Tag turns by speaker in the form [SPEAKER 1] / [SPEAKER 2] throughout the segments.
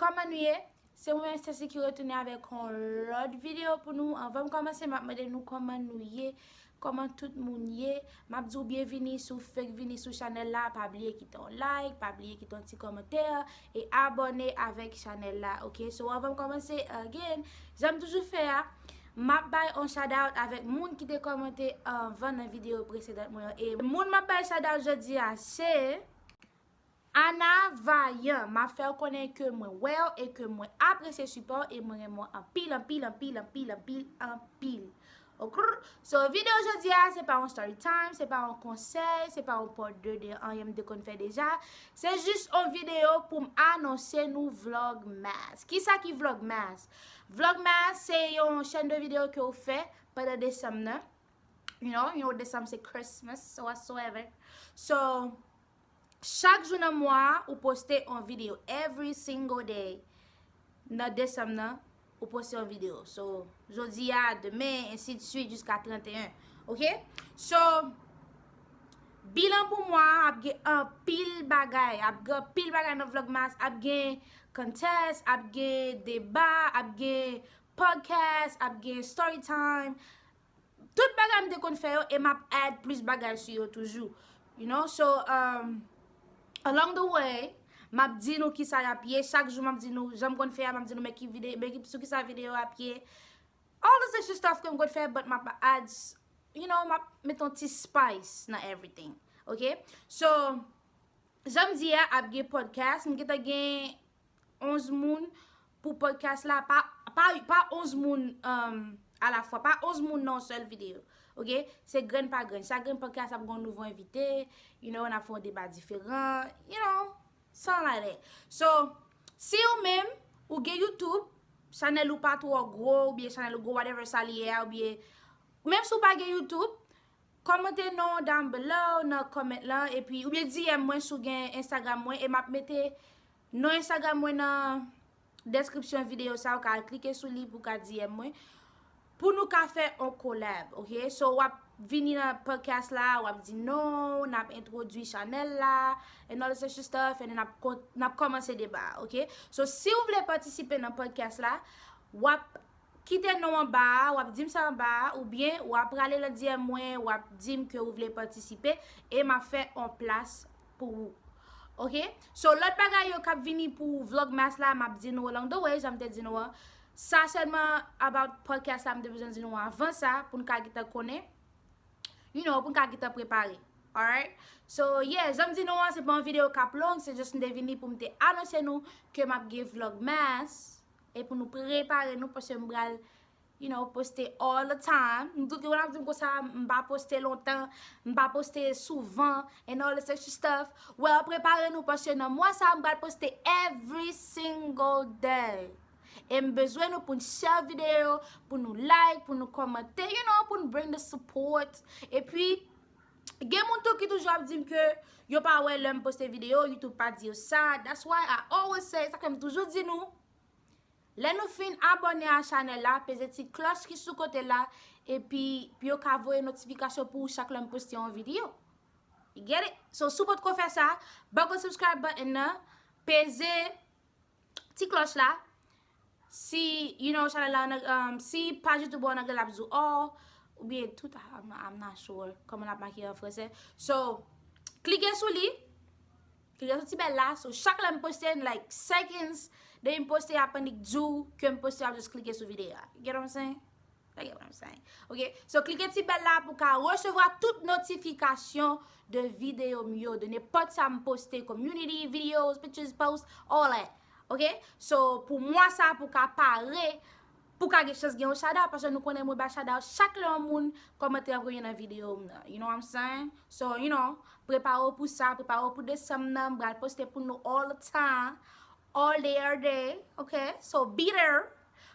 [SPEAKER 1] Kòman nou ye? Se mwen Stacy ki retounen avèk yon lòt videyo pou nou. Anvan m kòmanse m ap mande nou kòman nou ye, kòman tout moun ye. M ap di w byenvini si w fèk vini sou chanèl la, pa bliye kite yon like, pa bliye kite yon ti kòmantè, e abòne avèk chanèl la ok. So anvan m kòmanse again, jan m toujou fè a, m ap bay yon shoutout avèk moun ki te kòmante anvan nan videyo presedan mwen yo. E moun m ap bay shoutout jodi a se. Ana vayan map fèw konnen ke mwen wèw e ke mwen apresye sipòw e mwen renmen w anpil anpil anpil anpil anpil anpil okrr so video jodia se pa yon story time se pa yon konsèy se pa yon part 2 de anyen m te konn fè deja se jis yon video poum anonse nou vlogmas kisa ki vlogmas vlogmas se yon chèn de video ke ou fè pandan desanm nan you know yon desanm se christmas so whatsoever so Chak jou nan mwa a ou poste yon video every single day nan Desanm nan ou poste yon video so jodi a demen ensi de suite jiska 31 ok so bilan pou mwa a ap gen anpil bagay ap gen anpil bagay nan vlogmas ap gen contest ap gen deba ap gen podcast ap gen story time Tout bagay m te konn fè yo e map add plis bagay sou yo toujou. You know, so, um, along the way, map di nou kisa yap ye, chak jou map di nou, jan m konn fè a, map di nou men ki vide, men sou kisa video yo ap ye. All those extra stuff ke m konn fè, but map add, you know, map met yon ti spice nan everything. Ok? So, jan m di a, ap gen podcast, m gentan gen 11 moun, Pou podcast la pa pa 11 moun a la fwa pa 11 moun nan yon sèl video ok se grenn pa grenn chak grenn podcast ap gen yon nouvo envite you know nap fè yon deba diferan you know sa la ye so si ou menm ou gen youtube chanèl ou pa twò gwo ou byen chanèl ou gwo whatever sa li ye a ou byen menm si ou pa gen youtube kòmante non down below nan comment lan epi ou byen DM mwen si ou gen instagram mwen e map mete Non Instagram mwen nan description video sa ou ka al klike sou li pou ka DM mwen pou nou ka fè on collab ok so wap vini nan podcast la wap di non nap entwodwi chanèl la and all such stuff and then nap komanse deba a ok so si ou vle patisipe nan podcast la wap kite non anba a wap dim sa anba a ou byen wap prale nan DM mwen wap dim ke ou vle patisipe e map fè on plas pou ou ok so lòt bagay yo kap vini pou vlogmas la map di nou alongdo way janm te di nou an sa sèlman about podcast la mte bezwen di nou avan sa poun ka gita konnen you know poun ka gita prepare alright so yeah janm di nou an se pa yon video kap long se just mte vini pou mte anonse nou ke map gen vlogmas e pou nou prepare nou paske mpral You know poste all the time Nou tout gen moun ap di m konsa m pa poste lontan M pa poste souvan And all this extra stuff Well prepare nou paske nan mwa sa m pral poste every single day E m bezwen nou pou n share video Pou nou like Pou nou komante You know pou n bring the support E pi Gen moun tou ki toujou ap di m ke Yo pa wè lè m poste video Youtube pa di yo sa That's why I always say Sa k fè m toujou di nou Lè nou fin abòne a chanèl la, peze ti klòch ki sou kote la, epi pou yo ka voye notifikasyon pou ou chak lè m poste yon videyo. You get it? So, si w potko fè sa, bòkò subscribe button nan, peze ti klòch la, si, you know, chanèl la an anglè, um, si paj YouTube ou an anglè l ap di w all, oubyen tout, I'm not sure, kòman l ap make l an fransè. So, klike sou li. Figure soti bèl la so chak lèm poste in like seconds depim poste yap annik diw kem poste wap just klike sou video a you get what I'm saying you get what I'm saying ok so klike ti bèl la pou ka resevwa tout notifikasyon de video m yo de nenpòt sam poste community videos pictures posts all that ok so pou mwa sa pou ka pare Pou ka gen chans gen yon shout out paske nou konnen mwen bay shout out chak lè yon moun kòmante yon bagay nan video m nan you know what I'm saying so you know prepare w pou sa prepare w pou desanm nan m pral poste pou nou all the time all day every day ok so be there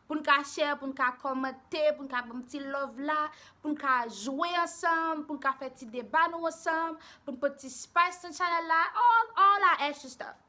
[SPEAKER 1] pou n ka share pou n ka kòmante pou n ka banm ti love la pou n ka jwe ansanm pou n ka fè ti deba nou ansanm pou n pot ti spice nan chanèl la all all I ask you stuff.